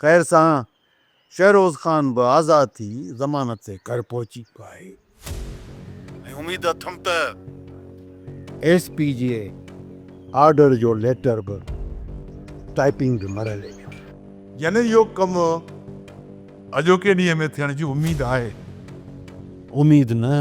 خير سان شهروز خان به آزاد ٿي ضمانت تي گهر پهچي ويو آهي ۽ اميد اٿم ته ايس پي جي آرڊر جو ليٽر به ٽائيپنگ جي مرحلي ۾ هوندو. يعني اهو ڪم اڄوڪي ڏينهن ۾ ٿيڻ جي اميد آهي. اميد نه.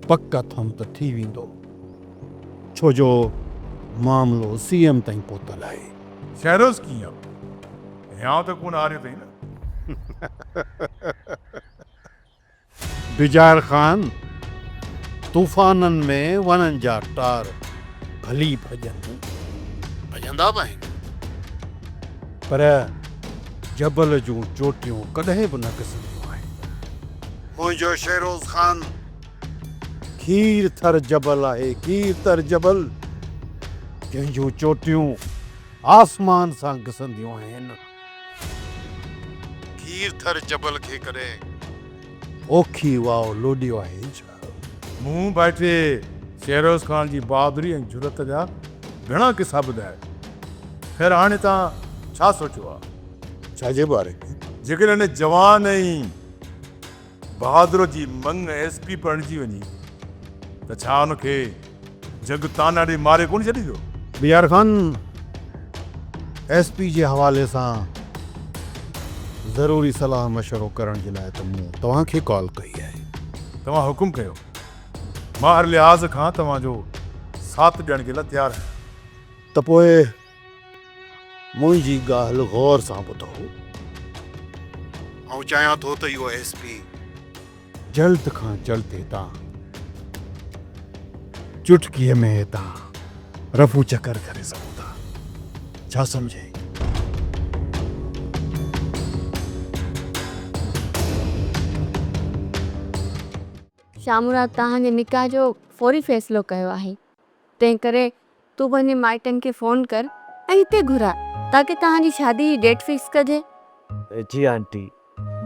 پڪ اٿم ته ٿي ويندو، ڇو جو معاملو سي ايم تائين پهتل آهي. سيروز ڪيئن هيانء ته ڪونه هاريو اٿئي نه؟ بجار خان، طوفانن ۾ وڻن جا ٽار ڀلي ڀڄن، ڀڄندا به آهن، پر جبل جون چوٽيون ڪڏهن به نه گسنديون آهن. منهنجو شيروز خان. کير ٿر جبل آهي کير ٿر جبل. جنهن جون چوٽيون آسمان سان گسنديون آهن. کير ٿر جبل کي ڪڏهن پوکي واء لوڏيو آهي ڇا؟ مون ڀائٽي شيروز خان جي بهادري ۽ جرئت جا گهڻا قصا ٻڌايا. خير هاڻي توهان ڇا سوچيو آهي؟ ڇا جي باري ۾؟ جيڪڏهن ان جوان ۽ بهادر جي مڱ ايس پي بڻجي وڃي ته ڇا ان کي جڳ طعنا ڏئي ماري ڪونه ڇڏيندو؟ بيار خان ايس پي جي حوالي سان ضروري صلاح مشورو ڪرڻ جي لاء ته مون توهان کي ڪال ڪئي آهي. توهان حڪم ڪيو. مان هر لحاظ کان توهان جو ساٿ ڏيڻ جي لاء تيار آهيان. ته پوء منهنجي ڳالهه غور سان ٻڌو. آئون چاهيان ٿو ته اهو ايس پي جلد کان جلد هتان چٽڪيء ۾ هتان رفو چڪر ڪري سگهون ٿا. ڇا سمجهين؟ شاهه مراد توهان جي نڪاح جو فوري فيصلو ڪيو آهي. تنهنڪري تون پنهنجي مائٽن کي فون ڪر ۽ هتي گهراء تاڪه توهان جي شادي جي ڊيٽ فڪس ڪجي. جي آنٽي،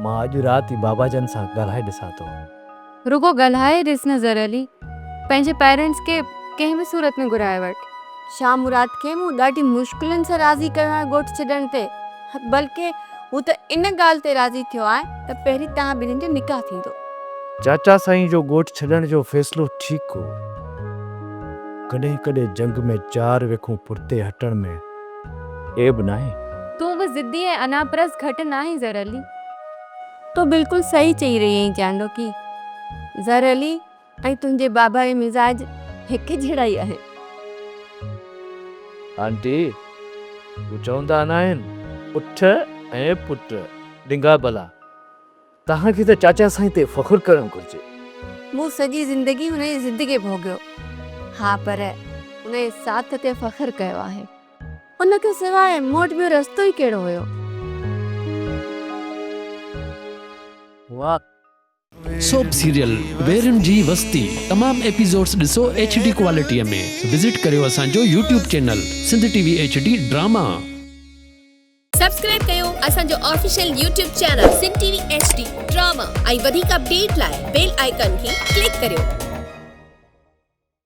مان اڄ رات ئي بابا جن سان ڳالهائي ڏسان ٿو. رڳو ڳالهائي ڏس نه زرعلي، پنهنجي پيرنٽس کي ڪنهن به صورت ۾ گهرائي وٺ. شاهه مراد کي مون ڏاڍي مشڪلن سان راضي ڪيو آهي ڳوٺ ڇڏڻ تي. بلڪه هو ته ان ڳالهه تي راضي ٿيو آهي ته پهرين توهان ٻنهين جو نڪاح ٿيندو. چاچا سائين جو ڳوٺ ڇڏڻ جو فيصلو ٺيڪ هو. ڪڏهن ڪڏهن جنگ ۾ چار ويکون پٺتي هٽڻ ۾ عيب ناهي. تون به ضدي ۽ انا پرست گهٽ ناهين زرعلي. تون بلڪل صحيح چئي رهي آهين چانڊوڪي. زرعلي ۽ تنهنجي بابائي مزاج هڪ جهڙا ئي آهن. آنٽي، هو چوندا ناهن اٺ ۽ پٽ ڊنگا بلا. توهان کي ته چاچا سائين تي فخر ڪرڻ گهرجي. مون سڄي زندگي هن جي ضد کي ڀوڳيو. ها پر هن جي ساٿ تي فخر ڪيو آهي. ان کان سواء مون وٽ ٻيو رستو ئي ڪهڙو هيو. واهه! سوپ سيريل ويرين جي وستي تمام ايپيسوڊس ڏسو ايڇ ڊي ڪوالٽي ۾ وزٽ ڪريو اسان جو YouTube channel Sindh T V H D drama. Subscribe ڪيو اسان جو official YouTube channel Sindh T V H D drama ۽ وڌيڪ اپڊيٽ لاء بيل آئيڪان کي ڪلڪ ڪريو.